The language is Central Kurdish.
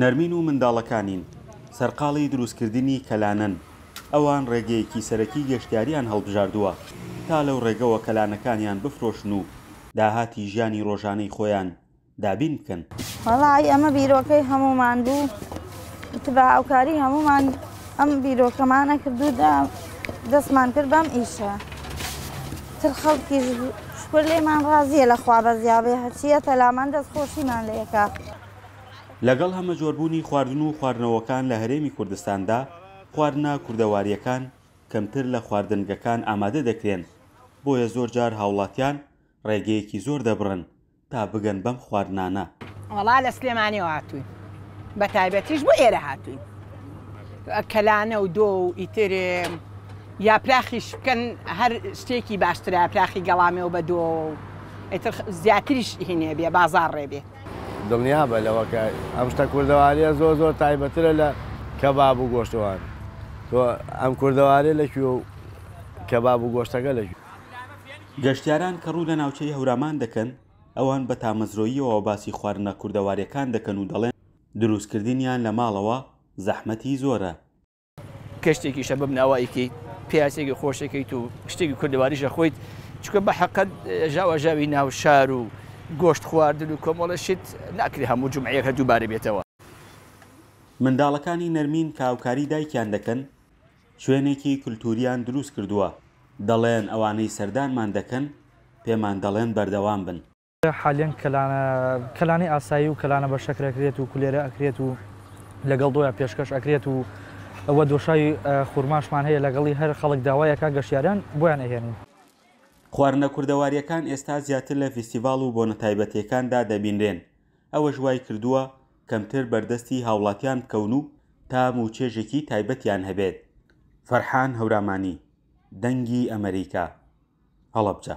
نەرمین و منداڵەکانین سەرقاڵی دروستکردنی کەلانەن، ئەوان ڕێگەیەکی سەرەکی گەشتیاریان هەڵبژاردووە تا لەو ڕێگەوە کەلانەکانیان بفرۆشن و داهاتی ژیانی ڕۆژانەی خۆیان دابین بکەن. وەڵایی ئەمە بیرۆکەی هەموومان بوو، وتبا هاوکاری هەموومان ئەم بیرۆکەمانە کرد و دەستمان کرد بەم ئیشە. تر خەڵکیش شکور لێمان ڕازیە لە خوا بەزیابێ هەرچیە پەلامان دەستخۆشیمان لێ ئەکا. لەگەڵ هەمەجۆربوونی خواردن و خواردنەوەکان لە هەرێمی کوردستاندا، خواردنە کوردەوارییەکان کەمتر لە خواردنگەکان ئامادە دەکرێن، بۆیە زۆرجار هاوڵاتیان ڕێگەیەکی زۆر دەبڕن تا بگەن بەم خواردنانە. وەڵا لە سلێمانیەوە هاتووین بە تایبەتیش بۆ ئێرە هاتووین کەلانە و دۆ و ئیتر یاپراخیش بکەن هەر شتێکی باشترە پراخی گەڵامێ و بە دۆ ئیتر زیاتریش هینێ بێ بازار ڕێ بێ دڵنیا بە لەوەکە ئەم شتە کوردەواریە زۆر زۆر تایبەترە لە کەباب و گۆشتەوان تۆ ئەم کوردەوارێ لە کوێ و کەباب و گۆشتەکە لە کوێ؟ گەشتیاران کە ڕوو لە ناوچەی هەورامان دەکەن، ئەوان بە تامەزرۆییەوە باسی خواردنە کوردەوارییەکان دەکەن و دەڵێن، دروستکردنیان لە ماڵەوە زەحمەتی زۆرە. کە شتێکیشە بەم ناوە ئەیکەیت، پیاسێکی خۆش ئەکەیت و شتێکی کوردەواریش ئەخۆیت، چونکە بە حەقە ژاواژاوی ناو شار و گۆشت خواردن و کۆمەڵە شت، ناکرێ هەموو جومعەیەک دووبارە بێتەوە. منداڵەکانی نەرمین کە هاوکاری دایکیان دەکەن، شوێنێکی کولتوورییان دروست کردووە، دەڵێن ئەوانەی سەردانمان دەکەن پێمان دەڵێن بەردەوام بن. حالیەن کەلانە کەلانی ئاسایی و کەلانە بە شەکر ئەکرێت و کولێرە ئەکرێت و لەگەڵ دۆیا پێشکەش ئەکرێت و وە دۆشاوی خورماشمان هەیە لەگەڵی هەر خەڵک داوای ئەکا گەشتیاران بۆیان ئەهێنین. خواردنە کوردەوارییەکان ئێستا زیاتر لە فیستیڤاڵ و بۆنە تایبەتییەکاندا دەبینرێن ئەوەش وای کردووە کەمتر بەردەستی هاوڵاتیان بکەون و تام و چێژێکی تایبەتیان هەبێت. فەرحان هەورامانی، دەنگی ئەمەریکا، هەڵەبجە.